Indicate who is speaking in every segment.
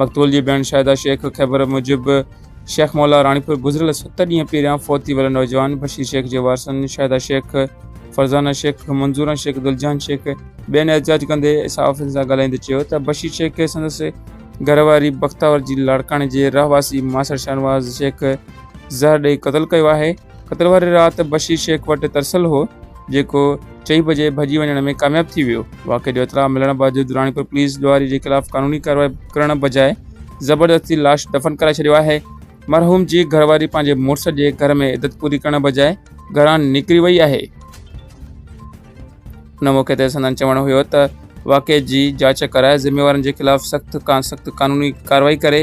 Speaker 1: مقتول جي ڀيڻ شاهده شيخ خيبر موجب شيخ مولا راڻيپور گذريل ست ڏينهن پهريان فوت ٿي ويل نوجوان بشير شيخ جي وارثن شاهده شيخ، فرزانه شيخ، منظوره شيخ، دلجهان شيخ ٻين احتجاج ڪندي صحافين سان ڳالهائيندي چيو ته بشير شيخ کي سندس گهرواري بختاور جي لاڙڪاڻي جي رهواسي ماسڙ شاهنواز شيخ زهر ڏئي قتل ڪيو آهي. خطر واري رات بشير شيخ وٽ ترسيل هو، جيڪو چئي بجي ڀڄي وڃڻ ۾ ڪامياب ٿي ويو. واقعي جو اطلاع ملڻ بعد دراڻيپور پوليس ڏوهاري جي خلاف قانوني ڪارروائي ڪرڻ بجاء زبردستي لاش دفن ڪرائي ڇڏيو آهي. مرحوم جي گهر واري پنهنجي مڙس جي گهر ۾ عدت پوري ڪرڻ بجاء گهران نڪري وئي آهي. ان موقعي تي سندن چوڻ هيو ته واقعي جي جاچ ڪرائي ذميوارن جي خلاف سخت کان سخت قانوني ڪارروائي ڪري.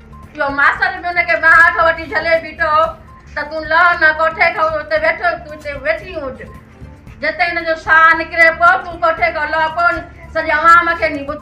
Speaker 2: جو ماستر به ان کي ٻانهن هيٺ وٺي جهلي بيٺو هو ته تون لهه نه ڪوٺي کان اتي ويٺو تون اتي ويٺي هج جتي هن جو ساهه نڪري پيو تون ڪوٺي کان لهه ڪون سڄي عوام کي ني ٻڌ